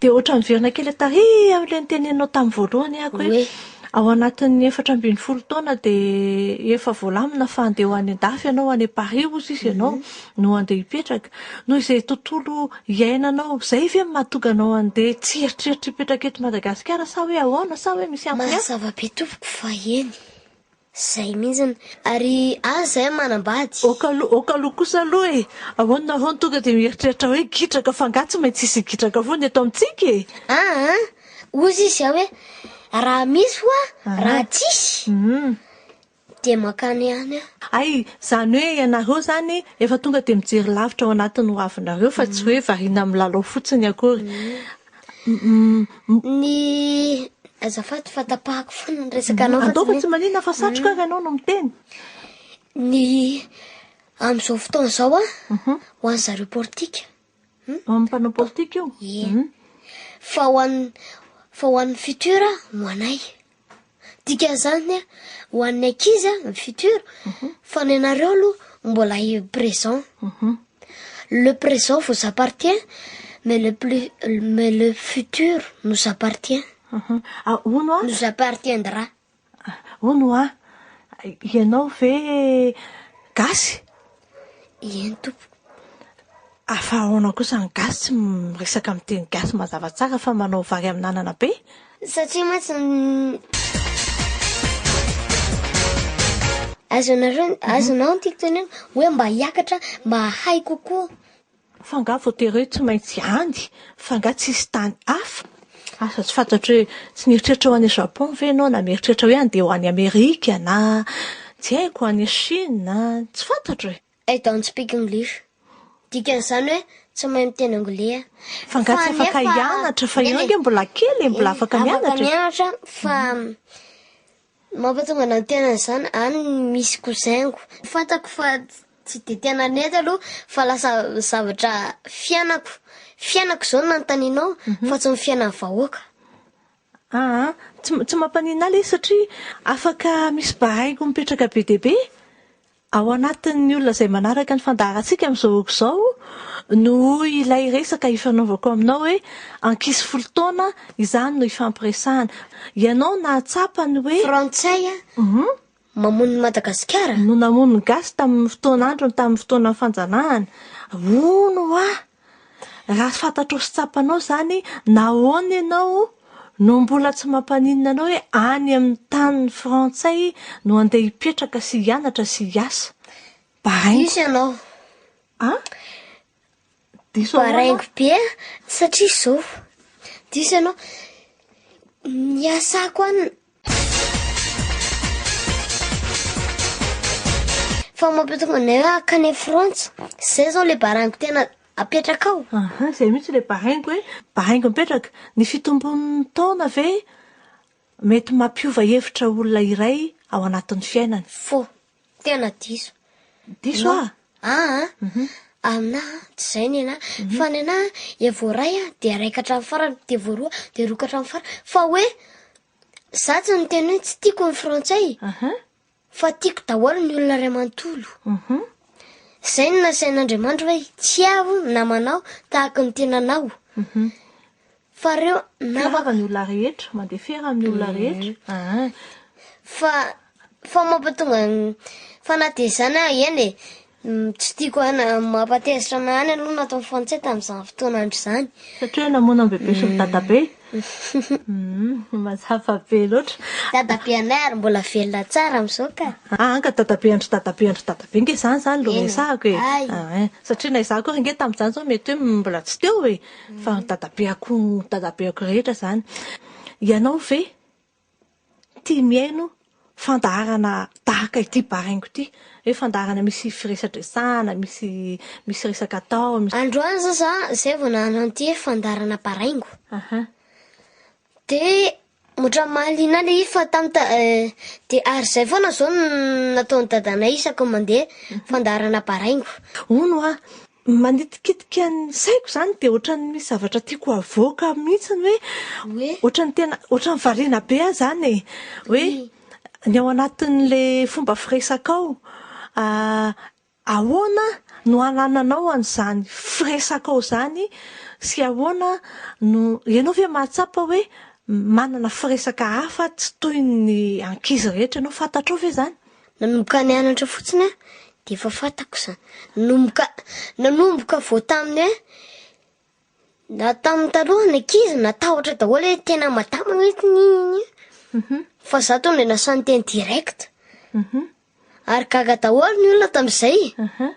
Dia ohatra miverina kely taty amin'ilay niteneninao tamin'ny voalohany aho hoe ao anatin'ny efatra ambin'ny folo taona dia efa voalamina fa handeha ho any an-dafy ianao, any Paris hozy izy ianao mhm. no handeha hipetraka. Noho izay tontolo iainanao izay ve no mahatonga anao handeha tsy eritreritra hipetraka eto Madagasikara sa hoe ahoana sa hoe misy antony hafa? Mazava be tompoko fa eny. Zay mintsiny. Ary aza zahay manambady. Ok aloha, ok aloha kosa aloha e! Ahoana ahoana tonga dia mieritreritra hoe gitraka fa angaha tsy maintsy hisy gitraka foana eto amintsika e! Aa! Hoy izy aho hoe raha misy hoa raha tsisy dia mankany ihany aho. Hay! Izany hoe ianareo izany efa tonga dia mijery lavitra ao anatin'ny hoavinareo fa tsy hoe variana milalao fotsiny akory. Ny azafady fa tapahako foana ny resaka anao fa ataoko tsy manina fa satroka ary anao no miteny ny amin'izao fotoana izao a mhm. ho an'ny zareo politika hmm? amin'ny mpanao politika io mhm. fa ho an'ny fa ho an'ny futur ho anay Dikan'izany ho an'ny ankizy ny futur fa ny anareo aloha mbola eo présent. Mhm. Le présent vous appartient mais le plus mais le futur nous appartient. Mhm. Ah, hono ah. Nous appartiendra. Hono ah. Ianao ve gasy? Eny tompoko. Fa ahoana kosa ny gasy tsy miresaka amin'ny teny gasy mazava tsara fa manao vary amin'anana be? Satria mantsy Azonareo, azonao ny tiako tenenina hoe mba hiakatra mba hahay kokoa. Fa nga voatery hoe tsy maintsy any? Fa nga tsisy tany hafa? Asa tsy fantatro hoe tsy nieritreritra ho any Japon ve ianao na mieritreritra hoe handeha ho any Amerika na tsy haiko, any Chine? Tsy fantatro e! I don't speak English. Dikan'izany hoe tsy mahay miteny anglais aho. Fa nga tsy afaka hianatra? Fa ianao ange mbola kely e, mbola afaka mianatra e! Afaka mianatra fa Mampatonga nantenaina izany any ny misy cousin-ko. Fantako fa tsy dia tena nety aloha fa lasa zavatra fiainako fiainako izao no nanontanianao fa tsy ny fiainan'ny vahoaka. Aa, tsy tsy mampaninona ahy ilay izy satria afaka misy bahaiko mipetraka be dia be Ao anatin'ny olona izay manaraka ny fandaharantsika amin'izao oko izao no hoy ilay resaka ifanaovako aminao hoe ankizy folo taona, izany no ifampiresahana. Ianao nahatsapa ny hoe. Frantsay mamono ny Madagasikara? No namono ny Gasy tamin'ny fotoan'androny tamin'ny fotoanan'ny fanjanahana. Hono hoa! Raha fantatrao sy tsapanao izany, nahoana ianao no mbola tsy mampaninona anao hoe any amin'ny tany frantsay no handeha hipetraka sy hianatra sy hiasa? Baraingo. Diso ianao. Ah? Diso ahoana? Baraingo be satria izao. Diso ianao. Ny asako any Fa mampitombo anay hoe hankany Frantsa. Izay izao ilay baraingo tena apetraka ao. Aha, izay mihitsy ilay baraingo hoe baraingo mipetraka. Ny fitombon'ny taona ve mety mampiova hevitra olona iray ao anatin'ny fiainany? Fo. Tena diso. Diso aho. Ah ah. Mhm. Aminah ah, tsy izay ny anah. Mhm. Fa ny anah ah, dia voaray ah, dia raika hatramin'ny farany, dia voaroa, dia roa ka hatramin'ny farany. Fa hoe za tsy niteny hoe tsy tiako ny frantsay. Aha. Fa tiako daholo ny olona ray manontolo. Mhm. Izay no nasain'Andriamanitra hoe tsy aho namanao tahaka ny tenanao. Mhm. Fa reo namako. Firava ny olona rehetra, mandefera amin'ny olona rehetra. Aa. Fa fa mampatonga fa na dia izany aho eny e, tsy tiako hana mampatezitra anah any aloha nataon'ny frantsay tamin'izany fotoana andro izany. Satria hoe namono an'i bebe sy ny dadabe? Mazava be loatra. Dadabe anay ary mbola velona tsara amin'izao ka. Aa ka dadabe andry dadabe andry dadabe ange izany izany no resahako e. Aa satria na izaho akory ange tamin'izany izao mety hoe mbola tsy teo e. Fa ny dadabeako, ny dadabeako rehetra izany. Ianao ve tia mihaino fandaharana tahaka ity baraingo ity? Hoe fandaharana misy firesadresahana, misy misy resaka atao. Androany izao za izay vao nahalanty fandaharana baraingo. Aha. Dia ohatran'ny mahaliana ahy ilay izy fa tamin'ny ta- dia ary izay foana izao no nataon'i dadanay isaky ny mandeha fandaharana baraingo. Hono aho, manitikitika ny saiko izany dia ohatran'ny misy zavatra tiako havoaka mihitsy hoe Hoe? ohatran'ny tena ohatran'ny variana be aho izany e. Hoe ny ao anatin'ilay fomba firesakao, Ahoana no anananao an'izany firesakao izany sy ahoana no, ianao ve mahatsapa hoe manana firesaka hafa tsy toy ny ankizy rehetra ianao? Fantatrao ve izany? Nanomboka nianatra fotsiny aho dia efa fantako izany. Nanomboka, nanomboka vao tamin'ny hoe Na tamin'ny taloha ny ankizy natahotra daholo hoe tena madama mihitsy ny iny mhm. fa za tonga dia nasan'ny teny direct mhm. ary gaga daholo ny olona tamin'izay mhm.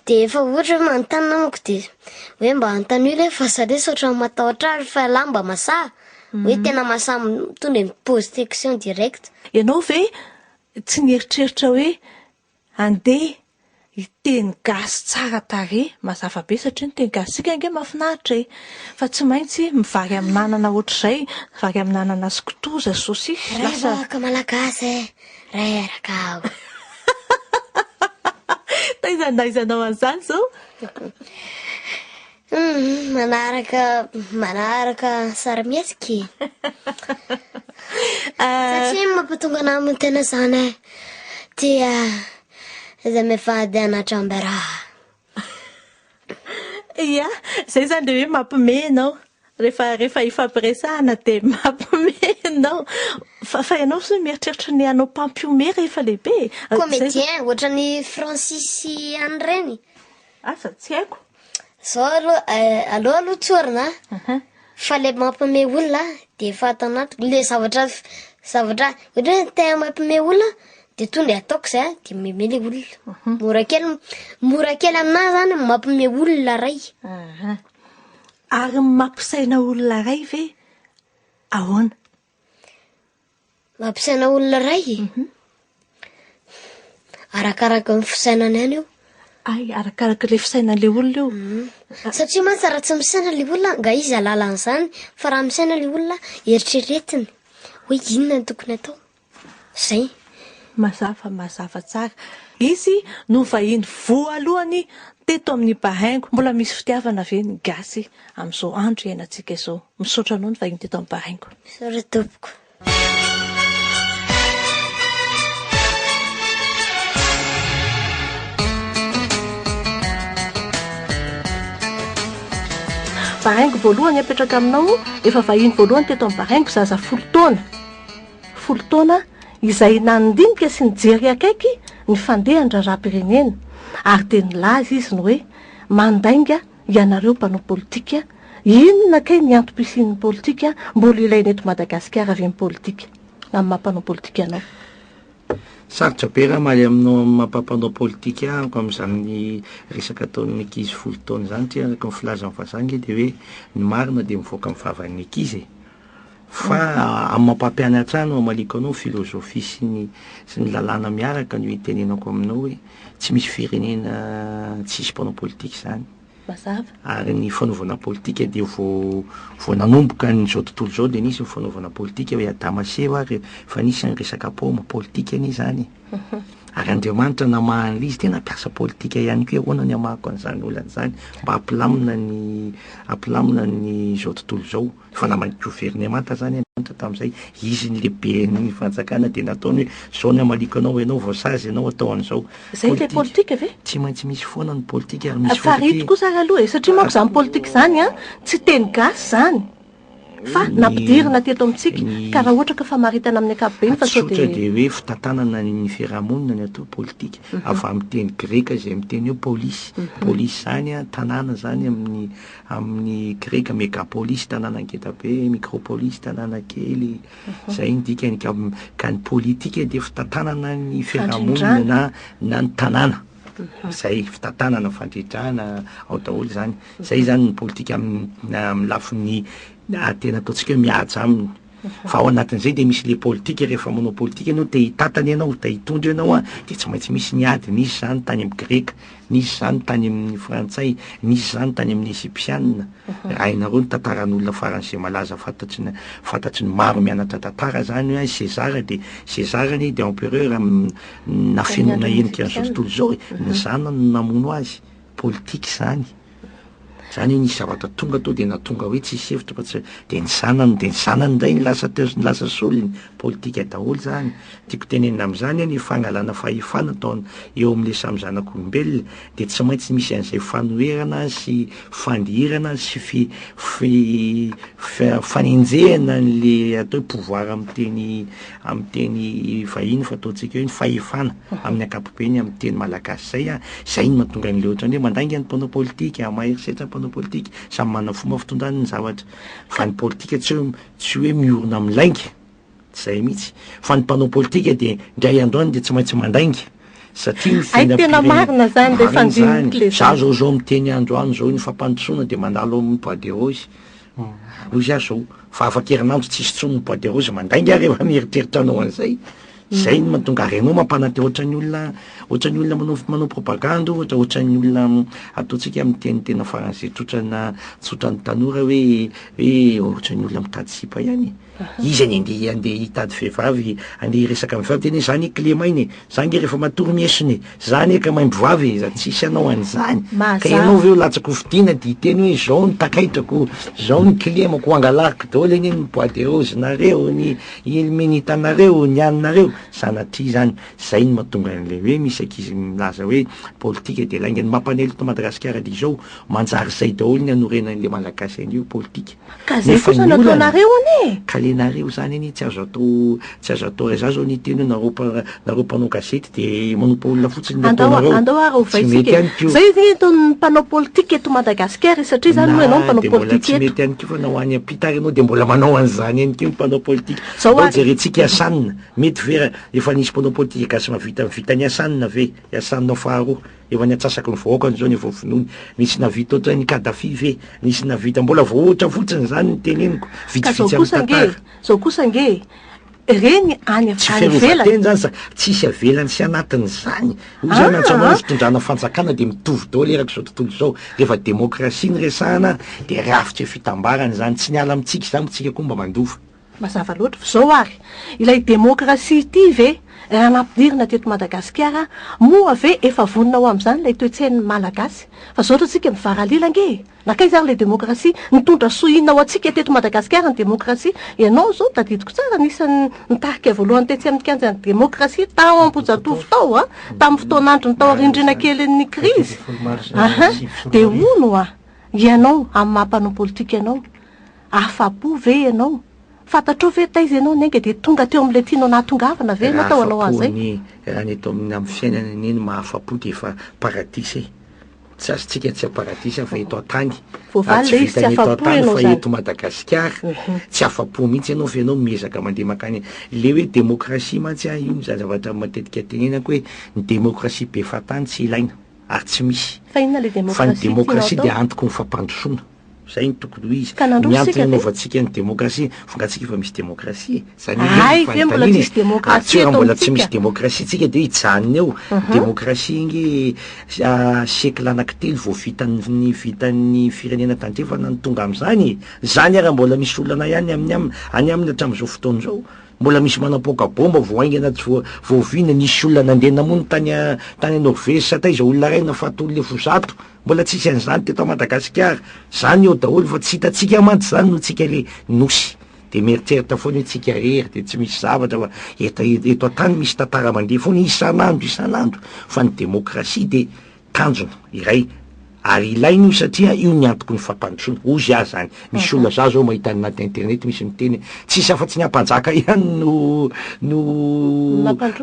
dia efa ohatra hoe manontany namako dia hoe mba anontany hoe fa zare saotra matahotra ary fa lahy mba masaha hoe tena masaha tonga dia mipose question direct ianao ve tsy nieritreritra hoe Andeha! Io teny gasy tsara tarehy, mazava be satria ny teny gasitsika ange mahafinaritra e! Fa tsy maintsy vary amin'anana ohatr'izay, vary amin'anana sy kitoza, saucisse, lasa. Ray vahoaka malagasy e! Ray araka aho. Taiza na aiza anao an'izany izao? Humm manaraka manaraka sarimihetsika e satria ny mampatonga anah hamono tena zany an dia izay mivady anah Jambera Ia, izay izany dia hoe mampime ianao. Rehefa rehefa ifampiresahana dia mampime ianao. Fa fa ianao ve mieritreritra ny hanao mpampihomehy rehefa lehibe e? Izay izany. Comédien ohatran'ny Francis sy an'ireny. Asa tsy haiko. Zao alo eh, aleo aloha tsorina a. Fa le mampime olona de efa ato anatiko le zavatra zavatra ohatra hoe te mampime olona de tonga de ataoko zay a de meme le olona. Mora kely mora kely aminahy zany ny mampime olona ray. Ary ny mampisaina olona ray ve ahoana? Mampisaina olona iray e. Mhm. Arakaraka ny fisainany any io. Ay, arakaraka ilay fisainan'ilay olona io. Mhm. Satria mantsy raha tsy misaina ilay olona, nga izy alala an'izany, fa raha misaina ilay olona, eritreretiny hoe inona no tokony atao. Zay. Mazava, mazava tsara. Izy no vahiny voalohany teto amin'ny Bahaingo. Mbola misy fitiavana ve ny gasy? amin'izao andro iainantsika izao. Misaotra anao nivahiny teto amin'ny Paraingo. Misaotra tompoko. Baraingo voalohany apetraka aminao efa vahiny voalohany teto amin'ny baraingo zaza folo taona folo taona izay nandinika sy nijery akaiky ny fandehan-draharaham-pirenena ary dia nilaza izy ny hoe mandainga Ianareo mpanao politika, inona kay ny antom pisian'ny politika, mbola ilaina eto Madagasikara ve ny politika, amin'ny maha mpanao politika anao? Sarotra be raha hamaly aminao amin'ny maha mpanao politika amiko amin'izany resaka ataon'ny ankizy folo taona izany, satria araka ny filazan'ny vazaha ange dia hoe ny marina dia mivoaka amin'ny vavan'ny ankizy e. Fa amin'ny maha-mpampianatra ahy no hamaliako anao ny filozofia sy ny sy ny lalàna miaraka no hitenenako aminao hoe tsy misy firenena tsisy mpanao politika izany. Mazava. Ary ny fanaovana politika dia vao vao nanomboka an'izao tontolo izao dia nisy ny fanaovana politika hoy Adama sy Eva ary efa nisy ny resaka paoma, politika anie izany e! Ary Andriamanitra namaha an'ilay izy dia nampiasa politika ihany koa hoe ahoana ny hamahako an'izany olana izany mba hampilamina ny hampilamina ny izao tontolo izao. Fa na mahay governemanta zany an Tonta tamin'izay izy ny lehiben'ny fanjakana dia nataony hoe zao ny hamaliako anao ianao vao sazy ianao atao an'izao. Zay ilay politika ve? Tsy maintsy misy foana ny politika ary misy foana. Farito kosa ary aloha e, satria manko zany politika zany an, tsy teny gasy zany fa nampidirina teto amintsika ka raha ohatra ka famaritana amin'ny ankapobeny fa sao dia. Tsotra dia hoe fitantanana ny fiarahamonina ny atao politika, avy amin'ny teny greka izay miteny hoe polis, polis zany an tanàna zany amin'ny Amin' ny greka megapolis, tanàna ngeda be, mikropolis, tanàna kely, izay ny dikany. Ka, ka ny politika dia fitantanana ny fiarahamonina na, na ny tanàna. Izay, fitantanana, fandridrana, ao daholo izany. Izay izany ny politika amin', na amin'ny lafiny, na tena ataontsika hoe mihaja aminy. Fa ao anatin'izay dia misy le politika, rehefa manao politika ianao, te hitantana ianao, te hitondra ianao an, dia tsy maintsy misy ny ady, nisy izany tany amin'ny greka, nisy izany tany amin'ny frantsay, nisy izany tany amin'ny ezypsianina, raha hainareo ny tantaran'olona faran'izay malaza fantatry ny fantatry ny maro mianatra tantara izany hoe Sezara dia Sezara anie dia empereur nafenina henika an'izao tontolo izao e, ny zanany no namono azy, politika izany, izany hoe nisy zavatra tonga teo dia nahatonga hoe tsisy hevitra fa tsy, dia ny zanany, dia ny zanany indray no lasa teo sy ny lasa solony, politika daholo izany. Ny tiako tenenina amin'izany hoe ny fangalana fahefana atao eo amin'ilay samy zanak'olombelona dia tsy maintsy misy an'izay fanoherana sy fandirana sy fi, fi, fanenjehana an'ilay atao hoe pouvoir amin'ny teny, amin'ny teny vahiny fa ataontsika hoe ny fahefana amin'ny ankapobeny amin'ny teny malagasy zay a, zay no mahatonga an'le ohatran'ny hoe mandainga ny mpanao politika, maha herisetra ny mpanao politika, samy manana fomba fitondrany ny zavatra, fa ny politika tsy hoe tsy hoe miorina amin'ny lainga, tsy zay mihitsy, fa ny mpanao politika dia indray andro any dia tsy maintsy mandainga satria ny fiainam-pirenena, hay tena marina zany le fandiniko le zany, za zao zao miteny andro any zao iny fampandrosoana dia mandalo amin'ny bois de rose Hoy izy ary zao, fa afa-kerinandro tsisy intsony ny bois de rose, mandainga rehefa mieritreritra anao an'izay, zay no mahatonga ary ianao mampanantena ohatran'ny olona ohatran'ny olona manao manao propagande ohatra, ohatran'ny olona ataontsika amin'ny teny tena faran'izay tsotra na tsotran'ny tanora hoe hoe ohatran'ny olona mitady sipa ihany e. Iza ny andeha handeha hitady vehivavy andeha hiresaka am vehivavy tena zany clema iny e! Za nge refa matory miesona e! Za anie ka maimbo vava e! Za tsisy anao an'izany! Ka ianao ve ho latsaka hofidiana de hiteny hoe zao ny takaitrako, zao ny clemako, hangalahiko daoly anie ny bois de rose nareo, ny ilmenita nareo, ny an'nareo! Sanatria zany! Zay no mahatonga an'le hoe misy ankizy milaza hoe politika de lainga! Ny mampanely eto Madagasikara de izao, manjary zay daoly ny hanorenan'le malagasy an'io politika! Ka zay kosa no ataonareo anie e! Ka le nareo zany anie tsy azo atao tsy azo atao za zao anie tena nareo mpa- nareo mpanao gazety de manompa olona fotsiny le Andao ataonareo. andao ary ho Tsy mety vaisika ihany e! ko. Zay anie ataon'ny mpanao politika eto Madagasikara e! Satria zany moa ianao Na mpanao dia mbola politika tsy eto. mety ihany ko fa na ho any am-pita ary ianao dia mbola manao an'izany ihany ko ny mpanao politika. Zao Andao ary. jerentsika i Hassan, mety ve ra- efa nisy mpanao politika gasy mahavita ny vitan'i Hassan ve? I Hassan faharoa. Efa ny atsasaky ny vahoaka ny zone vao vonoiny, nisy navita otran'ny Kadhafi ve? Nisy navita? Mbola vao ohatra fotsiny zany ny teneniko, Ka zao vitsivitsy amin'ny kosa ange e, tantara. zao kosa ange e, reny any Tsy any ivelany. fiarovan-teny zany sa tsisy avelany sy anatiny zany? Hoy zany Antsa Anao ny Aa! fitondrana fanjakana dia mitovy daholo eraky izao tontolo izao, rehefa demokrasia no resahana dia rafitra fitambarana izany, tsy niala amintsika izany moa tsika koa mba mandova. Mazava loatra fa izao ary, ilay demokrasia ity ve raha nampidirina teto Madagasikara moa ve efa vonona ho amin'izany ilay toe-tsain'ny Malagasy? Fa izao ohatrantsika mivaralila ange e! Nankaiza ary ilay demokrasia? Nitondra soa inona ho antsika teto Madagasikara ny demokrasia? Ianao izao, tadidiko tsara, anisan'ny nitarika voalohany tetsy amin'ny kianjan'ny demokrasia tao Ambohijatovo tao an! tamin'ny fotoan'androny tao arindrina kelin'ny krizy, ahin! dia hono an! ianao amin'ny maha mpanao politika anao, Afa-po ve ianao? Fantatrao ve taiza ianao ny ainga dia tonga teo amin'ilay tianao nahatongavana ve ianao tao hanao Raha ahafapo an'izay? ny raha ny eto amin'ny amin'ny fiainana anie ny mahafapo dia efa paradisa e! Tsy azontsika tsy paradisa fa eto an-tany Voavaly ary tsy ilay izy, tsy vitan'ny eto afa-po an-tany ianao fa izany. eto Madagasikara tsy afa-po mihitsy ianao fa ianao miezaka mandeha mankany le hoe demokrasia mantsy an io izany zavatra matetika tenenako hoe ny demokrasia be fahatany tsy ilaina ary tsy misy Fa inona ilay fa ny demokrasia tianao demokrasia dia atao? antoko ny fampandrosoana. Zay no tokony ho izy. Ka nandroso Ny isika antony dia. anaovantsika ny demokrasia, vongantsika efa misy demokrasia e. Zany indrindra Hay, no ve mbola fanontaniana tsisy e. demokrasia Ary tsy eto raha mbola tsy amintsika? misy demokrasia tsika dia hijanona eo. Demokrasia ange ah, siècle anankitelo vao vitan'ny, vitan'ny firenena tandrefana no tonga amin'izany e. Izany ary mbola misy olana ihany amin'ny am, any aminy hatramin'izao fotoana izao. Mbola misy manapoaka bomba vao haingana tsy voa, voaviana. Nisy olona nandeha namono tany a, tany Norvezy sa taiza olona iray nafaty olona efa ho zato. Mbola tsisy an'izany teto Madagasikara, zany eo daholo fa tsy hitantsika mantsy zany noho tsika le Nosy de mieritreritra foana hoe tsika rery de tsy misy zavatra fa et eto an-tany misy tantara mandeha foana isan'andro isan'andro fa ny demokrasia de tanjona iray ary ilaina io satria io ny antoky ny fampandrosoana, hozy aho zany. Misy olona za zao mahita any anaty internet misy miteny hoe tsisy afa tsy ny ampanjaka ihany no no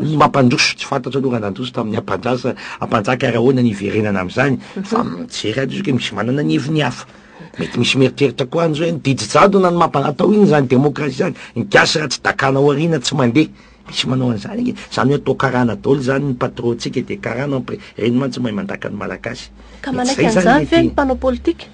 no mampandroso, tsy fantatro aloha raha nandroso tamin'ny ampandrasa ampanjaka ary ahoana ny hiverenana am'zany fa mijery ato izy ke misy manana ny heviny hafa. Mety misy mieritreritra koa any zao hoe ny didy jadona no mampa- atao iny zany demokrasia zany, ny gasy raha tsy dakana ao aoriana tsy mandeha. Misy manao an'izany ange. Zany hoe atao karana daoly zany ny patron tsika dia karana mpre, reny mantsy mahay mandaka ny malagasy. Ka manaiky an'izany ve ny mpanao politika?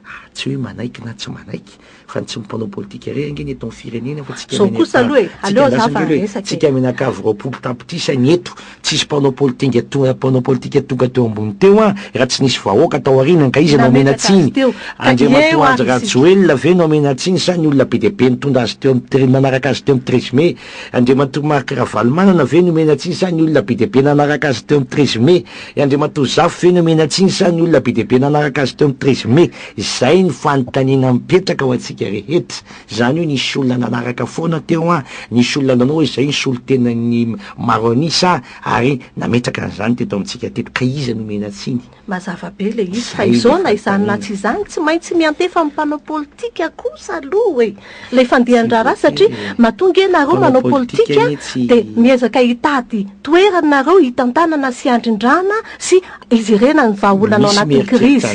Ah, tsy hoe manaiky na tsy manaiky, fa ny tsy ny mpanao politika irery ange ny eto amin'ny firenena fa tsika Zao kosa aloha e, aleo aza fa resaka e. Tsika mianakavy roapolo tapitrisa ny eto, tsisy mpanao politinga to- mpanao politika tonga teo ambony teo an, raha tsy nisy vahoaka tao aoriana angaha iza no hamena Nametraka azy tsiny? teo. Ka Andriamatoa eo Andry avy isika. Rajoelina ve no hamena tsiny sa ny olona be dia be nitondra azy teo amin'ny tre- nanaraka azy teo amin'ny treize mai? Andriamatoa Marc Ravalomanana ve nomena tsiny sa ny olona be dia be nanaraka azy teo amin'ny treize mai? I Andriamatoa Zafy ve nomena tsiny sa ny olona be dia be nanaraka azy teo amin'ny treize mai? Izay no fanontaniana mipetraka ho antsika rehetra. Izany hoe nisy olona nanaraka foana teo an, nisy olona nanao hoe izay ny solontenan'ny maro an'isa ary nametraka an'izany teto amintsika teto. Ka iza nomena tsiny? Mazava be ilay izy fa izao na izany na tsy izany tsy maintsy miantefa amin'ny mpanao politika kosa aloha e! ilay fandehan-draharaha satria mahatonga ianareo manao politika dia miezaka hitady toerana ianareo hitantanana sy handrindrana sy hijerena ny vahaolana ao anatin'ny krizy.